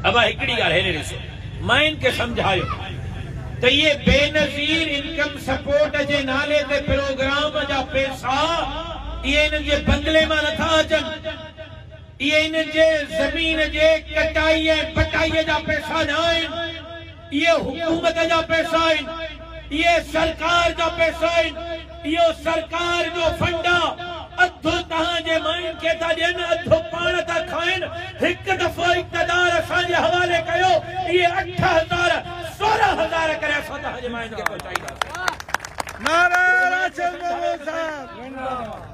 ابا هڪڙي ڳالهه هيڏي ڏسو، ماين کي سمجهايو ته اهي بينظير انڪم سپورٽ جي نالي تي پروگرام جا پيسا اهي انهن جي بنگلي مان نٿا اچن، اهي انهن جي زمين جي ڪٽائي ۽ بٽائي جا پيسا نه آهن. اهي حڪومت جا پئسا آهن، اهي سرڪار جا پئسا آهن، اهو سرڪار جو فنڊ آ، اڌ توهان جي ماين کي ٿا ڏين، اڌ پاڻ ٿا کائن، هڪ دفعو اقتدار اسان جي حوالي ڪيو، اهي اٺ هزار، سورهن هزار ڪري اسان توهان جي ماين کي پهچائينداسين. نعرا راڇ مولوي صاحب زنده باد.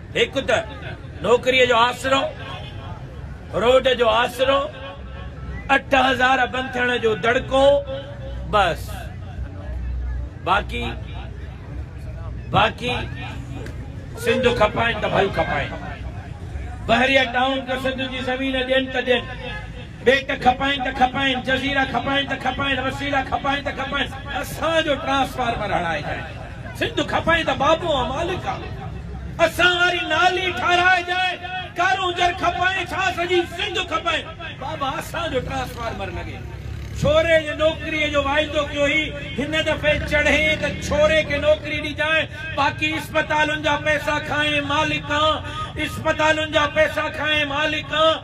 هڪ ته نوڪريء جو آسرو، روڊ جو آسرو، اٺ هزار بند ٿيڻ جو دڙڪو، بس. باقي باقي سنڌ کپائين ته ڀل کپائين. بحريه ٽائون ته سنڌ جي زمين ڏين ته ڏين. ٻيٽ کپائين ته کپائين، جزيرا کپائين ته کپائين، وسيلا کپائين ته کپائين، اسان جو ٽرانسفارمر هڻائجانء. سنڌ کپائين ته بابو آن مالڪ آن. اسان واري نالي ٺاراهجانء. ڪارونجهر کپائين ڇا سڄي سنڌ کپائين، بابا اسان جو ٽرانسفارمر لڳي. ڇوري جي نوڪريء جو واعدو ڪيو هئي، هن دفعي چڙهين ته ڇوري کي نوڪري ڏجانء، باقي اسپتالن جا پئسا کانئن مالڪ آن، اسپتالن جا پئسا کانئن مالڪ آن.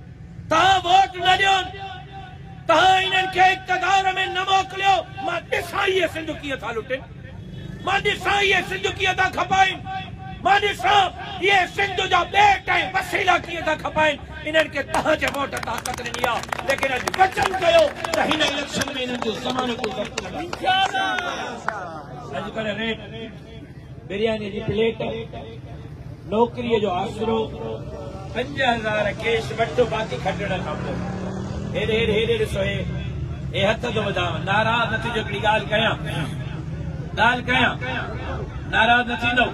توهان ووٽ نه ڏيون، توهان انهن کي اقتدار ۾ نه موڪليو، مان ڏسان اهي سنڌ ڪيئن ٿا لٽين، مان ڏسان اهي سنڌ ڪيئن ٿا کپائين، مان ڏسان اهي سنڌ جا ٻيٽ ۽ وسيلا ڪيئن ٿا کپائين، انهن کي توهان جي ووٽ طاقت ڏني آهي، ليڪن اڄ وچن ڪيو ته هن اليڪشن ۾ انهن جو ضمانتون ضبط ڪنداسين. اڄڪلهه ريٽ برياني جي پليٽ، نوڪريء جو آسرو، پنج هزار ڪيش وٺ باقي کٽڻ کان پوء. هيڏي هيڏي هيڏي ڏسو هي هي هٿ ٿو وڌانء. ناراض نه ٿيجو هڪڙي ڳالهه ڪيان ڳالهه ڪيان ناراض نه ٿيندؤ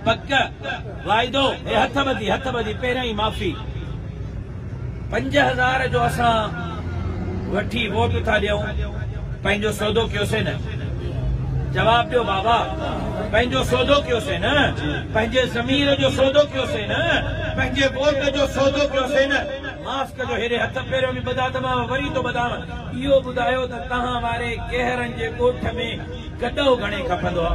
پڪ واعدو هي هٿ ٻڌي هٿ ٻڌي پهريائين معافي. پنج هزار جو اسان وٺي ووٽ ٿا ڏيون پنهنجو سودو ڪيوسين نه جواب ڏيو بابا پنهنجو سودو ڪيوسين نه پنهنجي ضمير جو سودو ڪيوسين نه پنهنجي ووٽ جو سودو ڪيوسين نه معاف ڪجو هيڏي هٿ پيريو ۾ ٻڌا ته مان وري ٿو ٻڌان اهو ٻڌايو ته توهان واري ڪهرن جي ڳوٺ ۾ گڏو گهڻي کپندو آ.